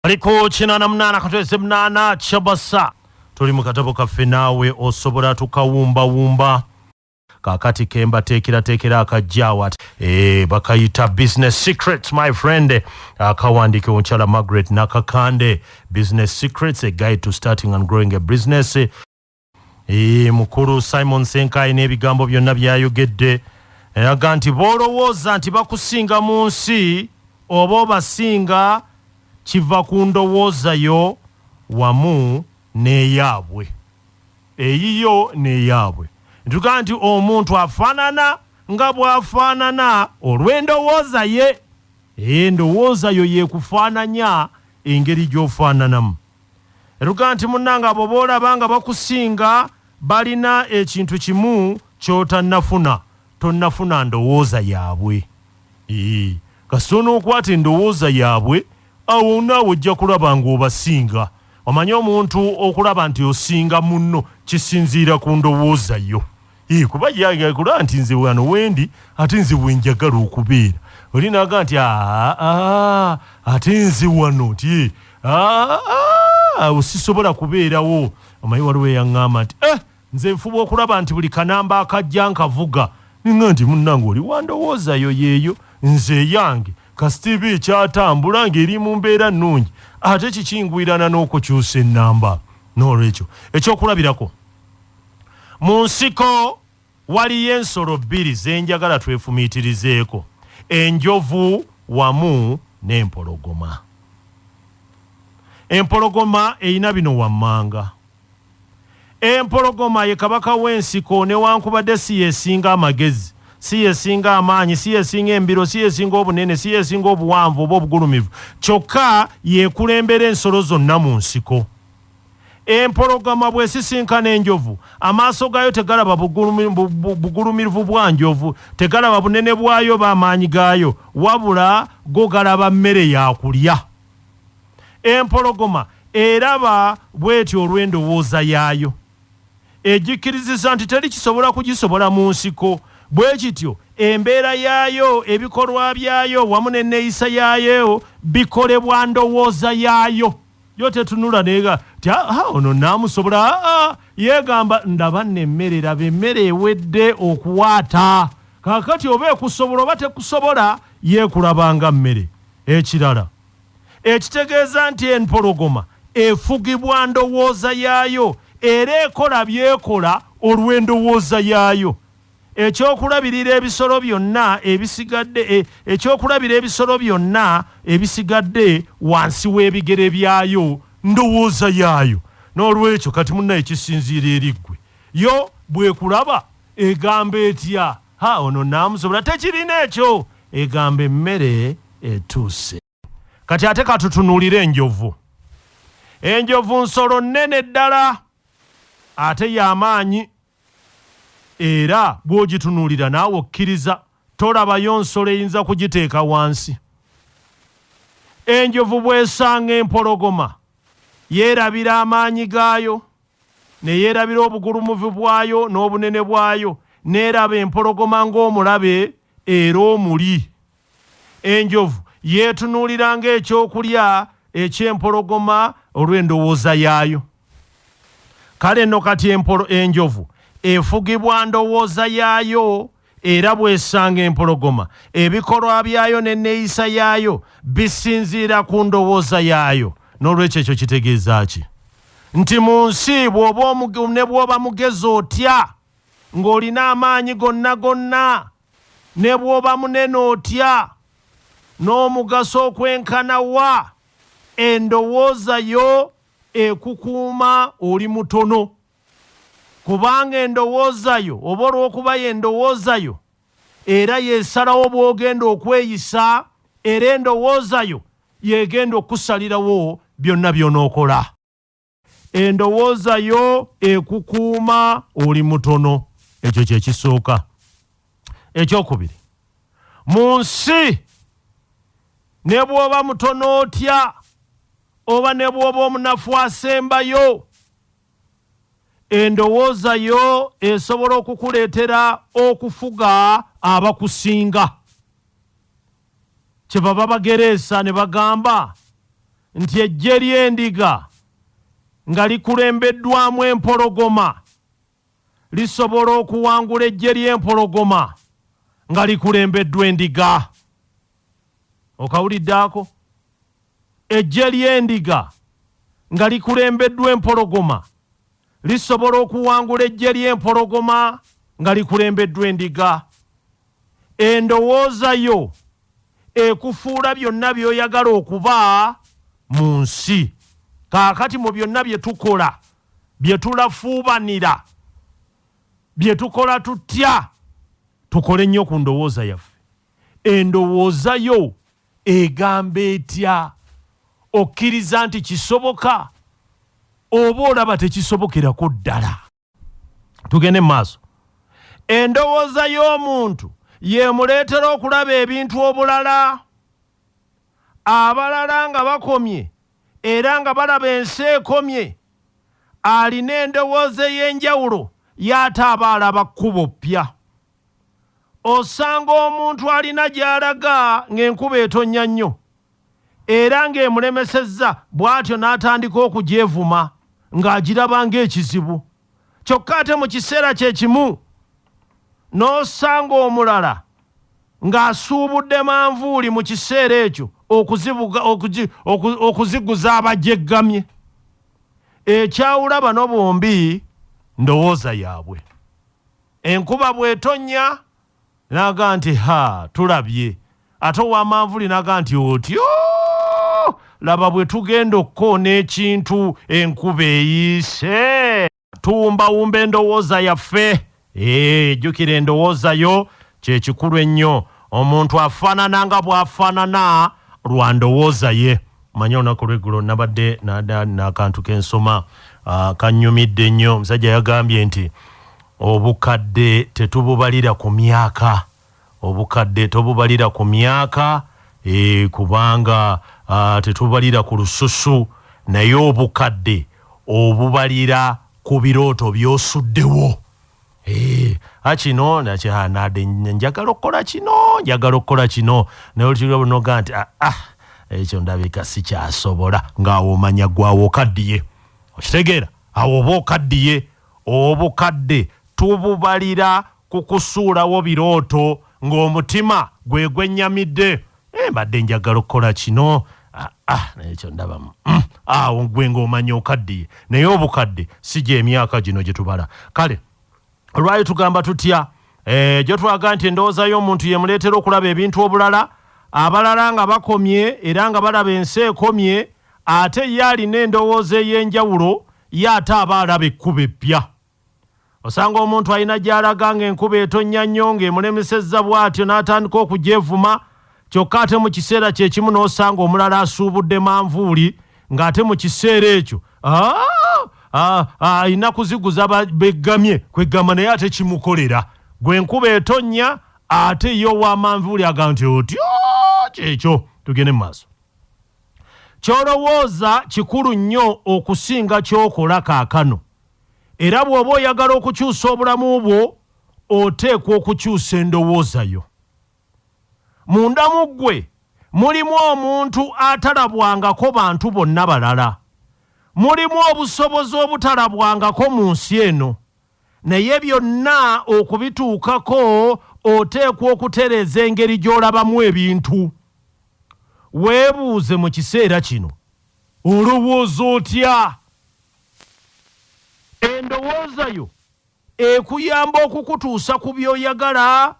ali ku kinaana munaana katweze munaana kyabasa tuli mu katabo kaffe naawe osobola tukawumbawumba kakati kembateekerateekera akajjawat e, eh, bakayita business secrets my friend akawandiika omukyala margaret nakakande business secrets a guide to starting and growing a business mukulu simon senkayi n'ebigambo byonna byayogedde aga nti b'olowooza nti bakusinga mu nsi oba obasinga kiva ku ndowooza yo wamu n'eyaabwe eyiyo n'eyaabwe ntugaa nti omuntu afaanana nga bw'afaanana olw'endowooza ye endowooza yo yekufaananya engeri gy'ofaananamu ne tugamba nti munnange abo boolaba nga bakusinga balina ekintu kimu ky'otannafuna tonnafuna ndowooza yaabwe kasita onookwata endowooza yaabwe awo naawe ojja kulaba ng'obasinga omanye omuntu okulaba nti osinga munno kisinziira ku ndowooza yo Ee, kuba yagula nti nze wano wendi ate nze wenjagala okubeera oli naga nti aa ate nze wano nti awo sisobola kubeerawo omanyi waliwo eyaŋŋamba nti e nze nfuba okulaba nti buli kanamba akajja nkavuga ninga nti munnange oli wandowoozayo yeeyo nze eyange kasitiiba ekyatambula ng'eri mu mbeera nnungi ate kikingwirana n'okukyusa ennamba n'olwekyo ekyokulabirako Mu nsiko waliyo ensolo bbiri ze njagala twefumiitirizeeko, enjovu wamu n'empologoma. Empologoma erina bino wammanga. Empologoma ye kabaka w'ensiko newankubadde si yesinga amagezi, si yesinga amaanyi, si yesinga embiro, si yesinga obunene, si yesinga obuwanvu oba obugulumivu, kyokka y'ekulembera ensolo zonna mu nsiko. Empologoma bw'esisinkana enjovu, amaaso gaayo tegalaba bugulumirvu bwa njovu, tegalaba bunene bwayo oba amaanyi gaayo, wabula go galaba mmere ya kulya. Empologoma eraba bw'etyo olw'endowooza yaayo, egikkirizisa nti teri kisobola kugisobola mu nsiko. Bwe kityo, embeera yaayo, ebikolwa byayo, wamu n'enneeyisa yaayo bikolebwa ndowooza yaayo. yo tetunula nega ti ah, ah, ono namusobola ah, yegamba ndaba nemmere raba emmere ewedde okuwaata kakati oba ekusobola oba tekusobola yekulabanga mmere ekirala ekitegeeza nti empologoma efugibwa ndowooza yaayo era ekola byekola olw'endowooza yaayo Ekyokulabirira ebisolo byonna ebisigadde e, ekyokulabira ebisolo byonna ebisigadde wansi w'ebigere byayo ndowooza yaayo n'olwekyo kati munna ekisinziira eri ggwe yo bwekulaba egamba etya ha ono naamusobola tekirina ekyo egamba emmere etuuse Kati ate katutunulire enjovu. Enjovu nsolo nnene ddala ate y'amaanyi era bw'ogitunulira naawe okkiriza tolabayo nsolo eyinza kugiteeka wansi. Enjovu bw'esanga empologoma yeerabira amaanyi gaayo ne yeerabira obugulumuvu bwayo n'obunene bwayo n'eraba empologoma ng'omulabe era omuli. Enjovu yeetunuulira ng'ekyokulya eky'empologoma olw'endowooza yaayo. Kale nno kati empolo enjovu efugibwa ndowooza yaayo era bw'esanga empologoma, ebikolwa byayo n'enneeyisa yaayo bisinziira ku ndowooza yaayo. N'olwekyo ekyo kitegeeza ki? Nti mu nsi ne bw'oba mugezi otya, ng'olina amaanyi gonna gonna, Ne bw'oba munene otya, n'omugaso okwenkana wa, endowooza yo ekukuuma oli mutono. Kubanga endowooza yo, oba olw'okuba y'endowooza yo, era y'esalawo bw'ogenda okweyisa, era endowooza yo y'egenda okukusalirawo byonna by'onookola. endowooza yo ekukuuma oli mutono ekyo kyekisooka ekyokubiri mu nsi ne bw'oba mutono otya oba ne bw'oba omunafu asembayo endowooza yo esobola okukuleetera okufuga abakusinga Kyebava bagereesa ne bagamba nti eggye ly'endiga nga likulembeddwamu empologoma lisobola okuwangula eggye ly'empologoma nga likulembeddwa endiga. Okawulidde ako? Eggye ly'endiga nga likulembeddwa empologoma lisobola okuwangula eggye ly'empologoma nga likulembeddwa endiga. Endowooza yo ekufuula byonna by'oyagala okuba mu nsi. Kaakati mu byonna bye tukola, bye tulafuubanira, bye tukola tutya, tukole nnyo ku ndowooza yaffe. Endowooza yo egamba etya? Okkiriza nti kisoboka oba olaba tekisobokerako ddala? tugende mu maaso endowooza y'omuntu yemuleetera okulaba ebintu obulala abalala nga bakomye era nga balaba ensi ekomye alina endowooza ey'enjawulo y'ate aba alaba kkubo ppya osanga omuntu alina gy'alaga ng'enkuba etonnya nnyo era ng'emulemesezza bw'atyo n'atandika okugyevuma ng'agiraba ng'ekizibu kyokka ate mu kiseera kye kimu n'osanga omulala ng'asuubudde manvuuli mu kiseera ekyo okuziguza abajeggamye ekyawula bano bombi ndowooza yaabwe Enkuba bw'etonnya n'aga nti ha tulabye ate ow'amanvuli n'aga nti otyo laba bwe tugenda okukoona ekintu enkuba eyiise tuwumbawumba endowooza yaffe ee jjukira endowooza yo kye kikulu ennyo omuntu afaanana nga bw'afaanana lwa ndowooza ye Manya olunaku lweggulo nabadde nada nakantu kensoma uh, kanyumidde nnyo. Omusajja yagambye nti obukadde tetububalira ku myaka, obukadde tobubalira ku myaka e, kubanga uh, tetububalira ku lususu, naye obukadde obubalira ku birooto byosuddewo. Eh, akino nakyehanade njagala okukola kino njagala okukola kino naye olutibwa bunoga nti ah, ah, ekyo ndabika sikyasobola ngaawo omanya gwawo okaddiye okitegeera awo oba okaddiye obukadde tububalira ku kusuulawo birooto ng'omutima gwe gwennyamidde Eh, mbadde njagala okukola kino ah, ah, naye ekyo ndabamu mm, awo gwe ng'omanya okaddiye naye obukadde si gy'emyaka gino gye tubala kale olwali tugamba tutya eh, gyo twaga nti endowooza y'omuntu yemuleetera okulaba ebintu obulala abalala nga bakomye era nga balaba ensi ekomye ate ye alina endowooza ey'enjawulo ye ate aba alaba ekkuba eppya Osanga omuntu alina gy'alaga ng'enkuba etonnya nnyo ng'emulemesezza bw'atyo n'atandika okugyevuma kyokka ate mu kiseera kye kimu n'osanga omulala asuubudde manvuuli ng'ate mu kiseera ekyo alina kuziguza beggamye kweggamba naye ate kimukolera gwe enkuba etonnya ate ye owamanvuuli aga nti otyo kyekyo tugende mu maaso ky'olowooza kikulu nnyo okusinga ky'okola kaakano Era bw'oba oyagala okukyusa obulamu bwo, oteekwa okukyusa endowooza yo. Munda mu ggwe mulimu omuntu atalabwangako bantu bonna balala. Mulimu obusobozi obutalabwangako mu nsi eno. Naye byonna okubituukako, oteekwa okutereeza engeri gy'olabamu ebintu. Weebuuze mu kiseera kino, Olowooza otya? Endowooza yo ekuyamba okukutuusa ku by'oyagala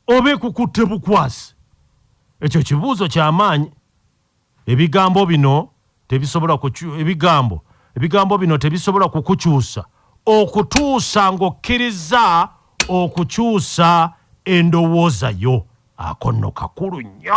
oba ekukutte bukwasi? Ekyo kibuuzo kya maanyi. Ebigambo bino tebisobola ebigambo ebigambo bino tebisobola kukukyusa okutuusa ng'okkirizza okukyusa endowooza yo. Ako nno kakulu nnyo.